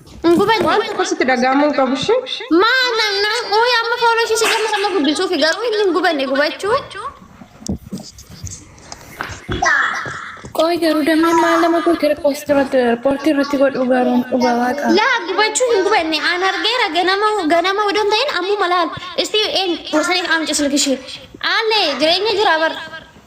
Waan tokko sitti dhaga'amuu hin qabu ishee. Maa namna uuyi amma fooloo ishee si gammas amma guddisuuf garuu inni hin gubanne gubachuu. Qoy garuu damee maal nama gootee poostii irratti riippoortii irratti godhu garuu dhugaa waaqa. Laa gubachuu hin gubanne aan argeera ganama ganama odoo hin ta'in ammuma laal. Isti een gorsanii amca silkishee. Aalle jireenya jira bara.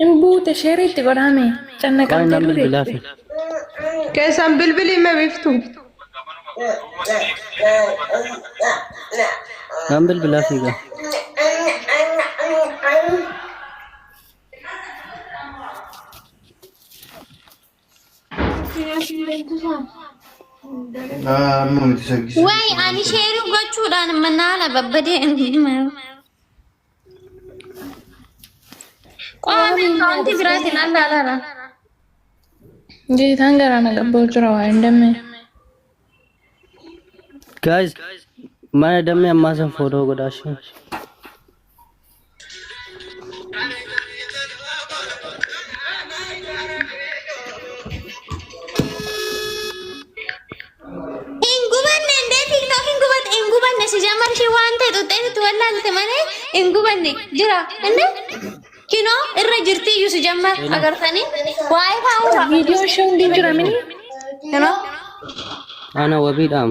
Hin buute sheerii itti godhaame. Waa'ee Cannaqamtee nan ture. bilbilaa fi Keessan bilbilii mee biftu. nan bilbilaa fi gaa. Amma miti shaggisa. Way ani sheerii gochuudhaan manaala babbadee Qo'ame wanti biraatiin alla alara. Jeetaan garaa na qabboo jira waa hin dammee. Guys, mana dammee ammaa san footoo godhaa ishee. Hin gubanne indee tiktok hin gubatte hin gubanne si jammar ishee waan ta'e xuxxee itti wallaalte malee hin gubanne jira indee kinoo irra jirti iyyuu si jammar agartanii waa'ee faa'uura Viidiyoon ishee hundi hin jiramini. kinoo Ana wabiidhaam.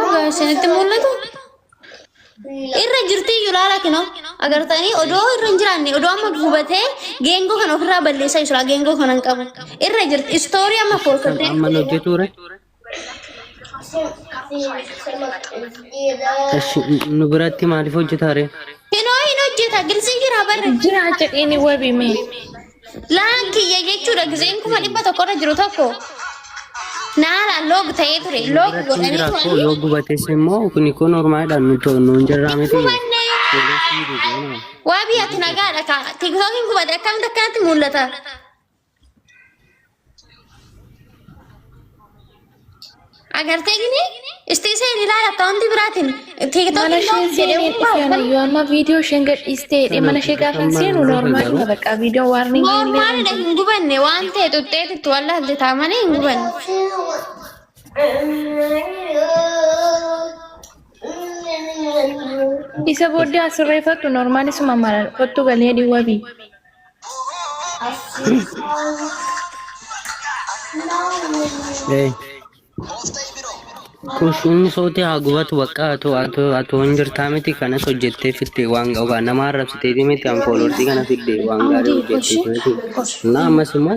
Ogaa isinitti mul'atu. Irra jirti iyyuu laala kinoo agartanii odoo irra hin jiraanne odoo amma gubatee geengoo kana ofirraa balleessaa jira geengoo kana hin qabu. Irra jirti istoorii amma Kan foorkattee. amma nu hojjetuure. Ashi nu biratti maaliif hojjetaare? Kinoo hin hojjeta gilsii jira barra. Jira jedhini wabi mee. Laan kiyya jechuudha gizeen kuma dhibba tokko irra jiru tokko naalaan loog ta'ee ture Inni loog biratti hin godhanii jiraatu turanii yoo gubates immoo kuni kun ormaadhaan nuti nuun jirraa miti gubanne Poolisiin gubuuna. waa biyyatti nagaadha kaa tiktookiin gubate akkamitti akkanatti mul'ata Agartee gini istiisee ilaala akkaawuntii biraatiin mana tiiktookii isheen look jedhee seeneen hundaa'u isaan yoo amma viidiyoo isheen gadhiistee jedhee mana ishee gaafa hin seenu noormaalidha bakka viidiyoo waarni Noormaalidha hin gubanne waan ta'e xuxxeetitti wallaalte taa malee hin gubanne. isa booddee asirreeffattu noormaalisuma malan kottu galee dhiwwabi Hey. Kushiin sooti haa gubatu bakka atu atu atu hin jirtaa miti kanas hojjettee fitte waan ga'u namaa arrabsitee miti an fooloorsii kana fidde waan gaarii hojjettee miti. Naa ammas immoo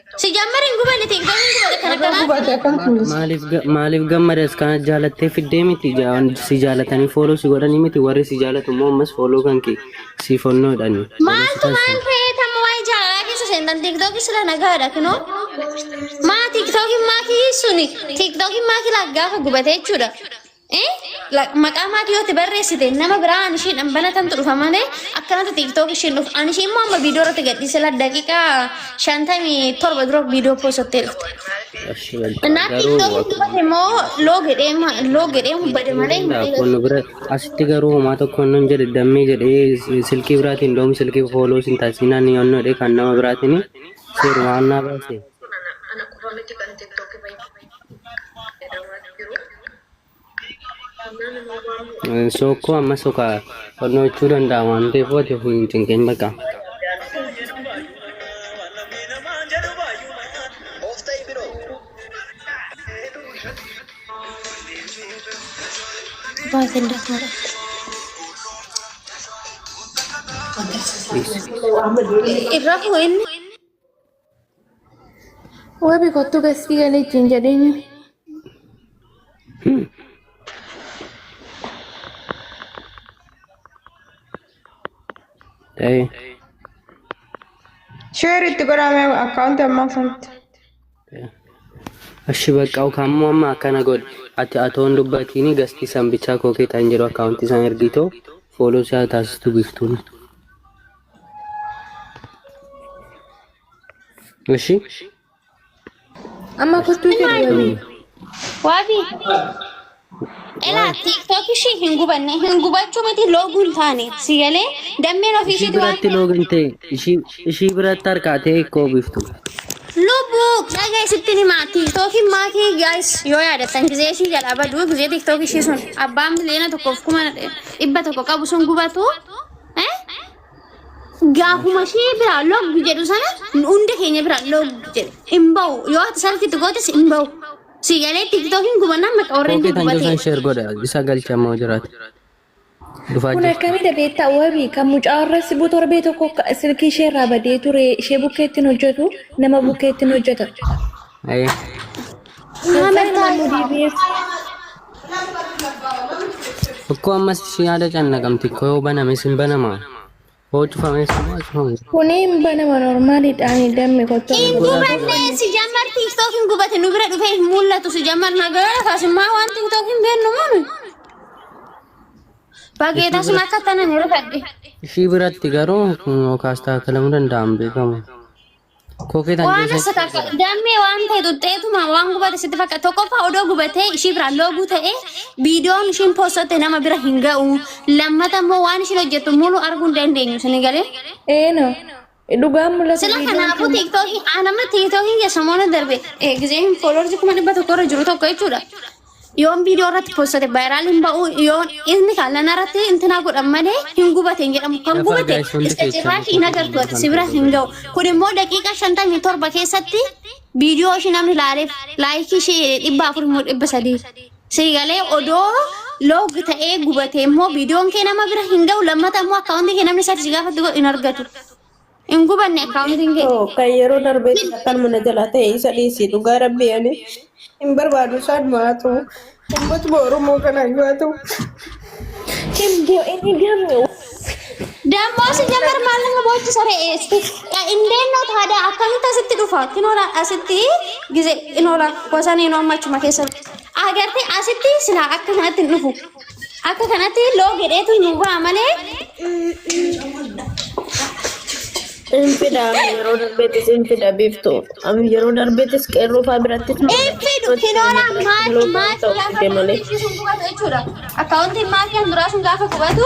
Sijammer hin gubane tiin kan hin gubane kan Nagaa akkanaa. gubate akkam kunis. Maaliif ga- maaliif gammadas kana jaalattee fiddee miti ja- si jaalatanii fooloo si godhanii miti warri si jaalatu immoo ammas fooloo kan kee si fonnoodhani. Maaltu maal ta'ee tamma waa'ee jaalalaa keessa seentan tiiktookii sila nagaadha kinoo. Maa tiiktookiin maakii suni tiiktookiin maakii laaf gaafa gubate jechuudha. maqaa maatii yoo itti barreessite nama biraa an ishiidhaan banatantu dhufa malee akkanatti tiiktook ishiin dhufa an ishii immoo amma viidiyoo irratti gadhiise la daqiiqaa shantamii torba dura viidiyoo poosattee dhufte. Ashi walta Naa garuu tiiktook itti bade immoo loo gedhee ma- loo gedhee bade malee hin bade. Kun bira asitti garuu homaa tokko nan jedhe dammee jedhee si- silkii biraatiin doom silkii fooloo sin taasisinaan ni onnoodhe kan nama biraatiin seerumaan naa baase. Ana qofa miti kan tiktoki bayyee. Sookoo amma sokaa fannoo jechuu danda'a waan ta'eef wati ofii hin cinqin baqa. Baay'een dafara. Irraa fuudhinni. Wabi kottu gastii galee ittiin jedheenyu. Ta'ee. Sheer itti godhame akkaawunti ammaa sanatti. Ashi bakka kamuu amma akkana godhi. Ati atoon dubbatiin gastii san bichaa koo keetaan jedhu akkaawuntii isaan ergiitoo fooloo isaa taasistu biftuun. እሺ Amma kottuu jedhu wabii. Waabi. Elaa tiktok ishii hin gubanne hin gubachuu miti looguun taane si galee dammeen ofii ishii ishiitu waan biratti loogan ta'e ishii ishii biratti harkaa ta'e koo biftu lubbuu dhagaa isitti himaa tiktookiin maatii gaayis yoo yaadatan gizee ishii jala baduu gizee tiktook ishii sun abbaan miliyoona tokkoof kuma dhibba tokko qabu sun gubatu gaafuma ishee biraa loggu jedhu sana hunda keenya biraa loggu jedhe hin ba'u yoo ati salkitti gootes hin ba'u si galee tiktookiin gubannaan maqa warreen Koopii kan gubate jirtan sheer godha isa galchamoo jiraate. Dhufaa Kun jira. akkamidha beektaa wabii kan mucaa irra sibu torbee tokko silkii ishee irraa badee ture ishee bukkeettiin hojjetu nama bukkeettiin hojjeta. Ayee. Muhammad Taayee. Tokko ammas si yaada cannaqamti koo yoo baname sin banama. Hoo cufame sin maa cufame. Kuni hin banama normaaliidhaan dammi gochuu Inni badnee si jammar tiktok hin gubate nu bira dhufee hin mul'atu si jammar nagara kaasummaa waan tiktok hin beennu munu. Bagee tasuma akka tanan irra fadhe. Ishii biratti garuu kun yookaas taakalamuu danda'an beekamu. Kookee tan Waan geessaa asata akka dammee waan ta'e xuxxeetuma waan gubate sitti fakkaata. Tokkoffaa odoo gubatee ishii biraan looguu ta'ee viidiyoon ishiin poostotte nama bira hin ga'u. Lammata immoo waan ishiin hojjettu mulu arguu hin dandeenyu isin galee. Eeno. Dhugaan mul'ata Sila viidiyoon kanaafuu kun. tiiktookiin aanamma tiiktookiin kee samoona darbe eh, gizeen fooloorsi kuma dhibba tokko irra jiru tokko jechuudha. Yoon viidiyoo irratti poostate vaayiraal hin ba'u yoon inni kan lana irratti intinaa godhan malee hin gubate hin jedhamu kan gubate isa cirraashi hin agartu ati si bira hin ga'u kun immoo daqiiqaa shantamii torba keessatti viidiyoo ishii namni laaleef laayikii ishii dhibba afur immoo dhibba sadii si galee odoo loog ta'ee gubate immoo viidiyoon kee nama bira hin ga'u lammata immoo akkaawuntii kee namni isaatti si gaafatu hin argatu. Hin gubanne akkaawuntiin kee. Too kan yeroo darbee kan akkanuma na jalaa ta'e isa dhiisi dhugaa rabbii ani hin barbaadu isaan maatu ummatuma oromoo kanaan yoo ta'u hin bo'e inni gamme Dammoo si jamar maal nama boochi saree eessi. Indeennoo taadaa akkamitti asitti dhufa? Kinoola asitti gize kinoola gosanee noo ammachuma keessa. Agartee asitti silaa akkanatti hin dhufu. Akka kanatti loo gedheetu nu ba'a malee. Sinfidha yeroo darbeetti sinfidha biiftu. Am- Yeroo darbeettis qeerroo fa'aa biratti Infidu kinoora maatii maatii gaafa deemalee. gubatu jechuudha. Akkaawuntiin maatii kan duraa sun gaafa gubatu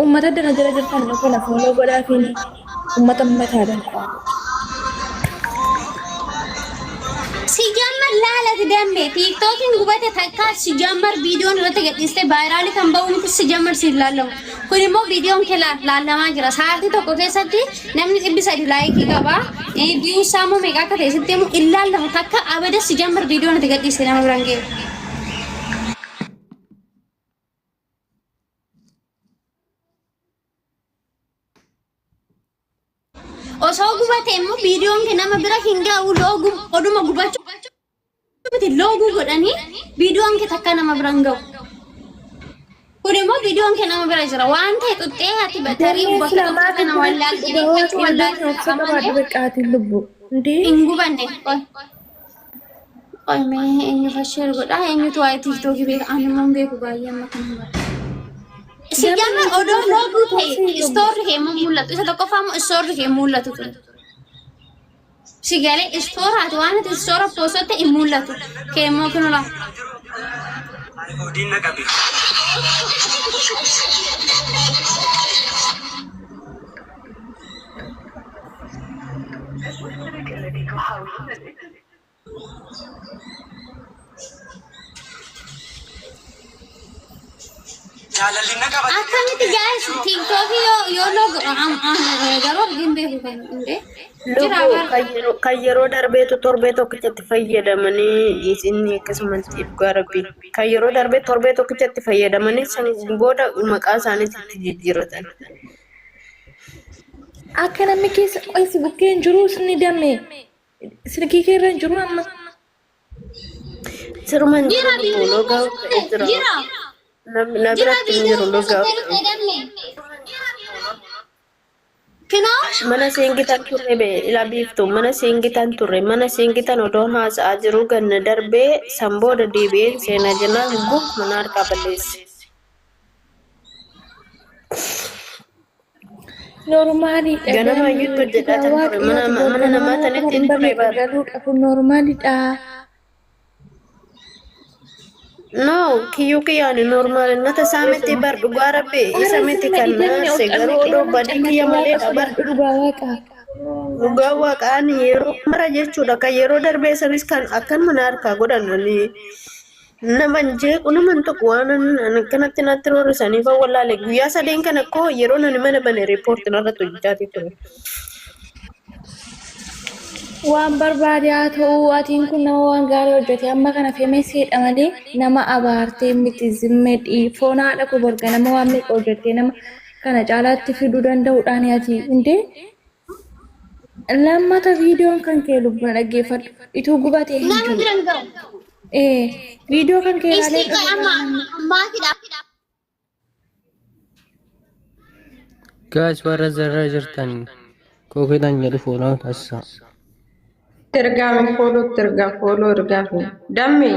Uummata addana jala jirtan nu kana fuuloo godhaa fi uummata mataa danqaa. Sijammar laalati damme tiiktookiin gubate takkaa sijammar viidiyoon irratti gadhiiste vaayiraalii kan ba'u miti sijammar siif laallamu. Kun immoo viidiyoon kee laa- laallamaa jira. Sa'aatii tokko keessatti namni dhibbi sadi laayikii qaba. Eh, Viyuu isaa immoo meeqa akka ta'e sitti himu hin laallamu takka abada sijammar viidiyoon itti gadhiiste nama biraan ga'e. Osoo gubatee immoo viidiyoon kee nama bira hin ga'u looguu oduma gubachuu miti looguu godhanii viidiyoon kee takka nama bira hin ga'u. Kun immoo viidiyoon kee nama bira jira waan ta'e xuxxee ati batarii bakka tokko kana wallaaltee dhiibbachuu wallaaltee qaba malee Qabaadhu beqaatiin lubbu. Indee. hin gubanne. Qoy mee eenyu fasheer godha eenyutu waa'ee tiiktookii beeka ani immoo hin beeku baay'ee amma kan hin barre. Si jama odoo looguu ta'e istoorri kee immoo mul'atu isa tokkoffaa immoo istoorri kee mul'atu ture. Si galee istooraati waan ati istoora poosotte hin mul'atu kee immoo kun olaa. Diinna qabi. Jaalalli na qaba. Akkamitti jaayis tiiktookii yoo yoo loogu garuu hin beeku kan hundee. Jira Lubbuu bara. kan yeroo- kan yeroo darbeetu torbee tokkichatti fayyadamanii isinni akkasumatti dhugaa rabbi kan yeroo darbee torbee tokkichatti fayyadamanii san booda maqaa isaaniitti itti jijjiirratan. Akka namni keessa qoysi bukkee hin jiru ni dame. Silkii kee irra hin jiru amma. Siruma hin jiru lubbuu logaa of ta'e jira. Nam- Na biratti hin jiru logaa of ta'e. Mana seengitan turre be ila biiftu mana seengitan turre mana seengitan odoon haasa'aa jiru ganna darbee san booda deebi'een seena jennaan guf mana harkaa balleesse. Normaaliidha. Ganama iyyuu itti hojjetaa kan ture. Mana- mana namaa sanatti hin ture bara. Galuudha kun normaaliidha. No, kiyyuu kiyyaan normaal nata isaa miti bar dhugaa rabbi isa miti kan naarse garuu odoo badii kiyya maleedha bar Dhugaa waaqa. dhugaa waaqaan yeroo mara jechuudha kan yeroo darbee sanis kan akkanuma na harkaa godhan ani naman jeequ naman tokko waan akkanatti natti roorrisanii kan wallaale guyyaa sadeen kana koo yeroo nani mana bane riippoorti narratti hojjechaatii ture. Waan barbaade haa ta'u atiin kun nama waan gaarii hojjete amma kana femeseedha malee nama abaartee miti zimme dhii foon haadha koo borga nama waan meeqa hojjettee nama kana caalaatti fiduu danda'uudhaan ati hundee Lammata viidiyoon kan kee lubbuna dhaggeeffadhu. Ituu gubatee hin Nama jiru. biran gahu. Ee, viidiyoo kan kee ilaalee Istii kan amma amma ammaatidha. Guys warra zarra jirtan kookiidhaan jedhu fuudhaa taasisaa. Ergaame foolootti ergaa fooloo ergaafne. Dammee.